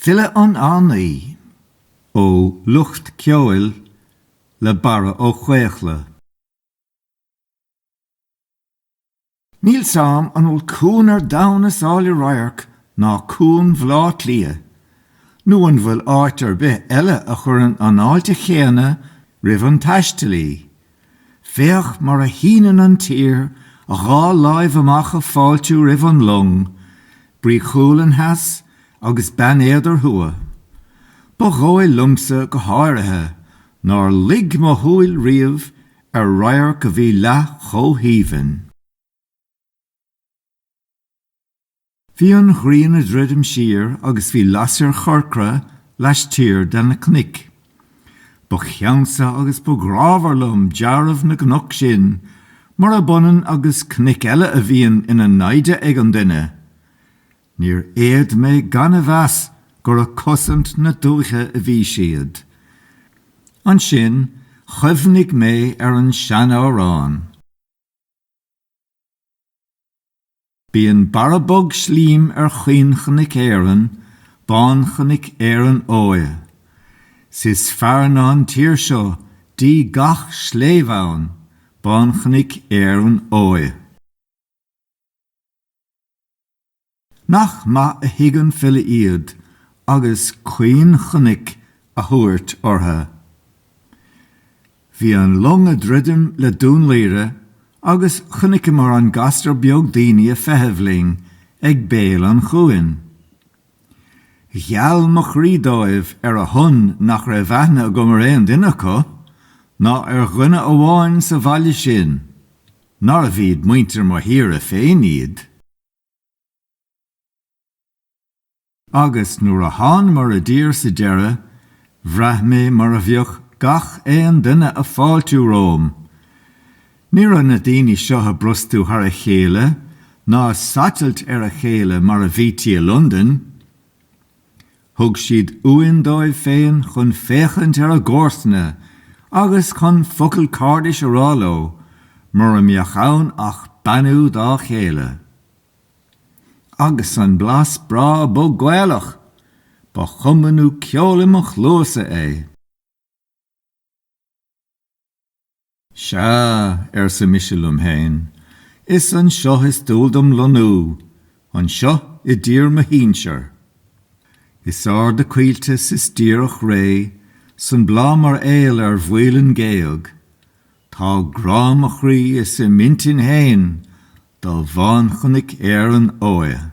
Filleadh an Fhánaí, ó Lucht Ceoil le Barra Ó Caochlaigh. Níl fhios agam, an bhfuil cuan ar domhan is áille radharc ná cuan Bhleá Cliath? Nó an bhfuil áit ar bith eile a chuireann an fháilte chéanna roimh an taistealaí Féach mar a shíneann an tír a dhá láimh amach a fáiltiú roimh an long, Brí Chualann theas agus Beann Éadair thuaidh. Ba dhóigh liomsa go háirithe nár luigh mo shúil riamh ar radharc a bhí leath chomh haoibhinn. Bhí an ghrian a druidim siar agus bhí lasair chorcra laistiar de na cnoic. Ba cheannsa agus ba ghrámhar liom dealramh na gcnoc sin, mura b'ionann agus cnoic eile a bhíonn ina naimhde ag an duine. Níor fhéad mé gan a mheas gur a cosaint na dúiche a bhí siad. Ansin chuimhnigh mé ar an seanamhrán. Bíonn barra bog slím ar chaoinchnoic Éireann, Bánchnoic Éireann Óighe. 'S is fearr ná an tír seo díogha gach sléibhe ann, Bánchnoic Éireann Óighe. Nach maith a thuig an file iad agus caoinchnoic a thabhairt ortha. Bhí an long a druidim le Dún Laoghaire agus chonaiceamar an gasra beag daoine a feitheamh linn ag béal an chuain. Gheal mo chroí dóibh ar a shon nach raibh aithne agam ar aon duine acu, ná ar dhuine amháin sa bhaile sin, nárbh iad muintir mo thíre féin iad. Agus nuair a thánamar i dtír sa deireadh, bhraith mé mar a bheadh gach aon duine a fáiltiú romham. Ní raibh na daoine seo a brostú thar a chéile ná a satailt ar a chéile mar a bhítí i Londain. Thug siad uain dóibh féin chun féachaint ar a gcomharsana agus chun focal cairdis a rá leo, mura mbeadh ann ach beannú dá chéile. Agus an blas breá bog Gaelach! Ba chuma nó ceol i mo chluasa é. Sea, arsa mise liom féin, is anseo is dual dom lonnú, anseo i dtír mo shínsear. Is ard a coillte 's is díreach réidh 's an bláth mar aol ar mhaoilinn géag. Tá grá mo chroí is i m'intinn féin de bhánchnoic Éireann óighe.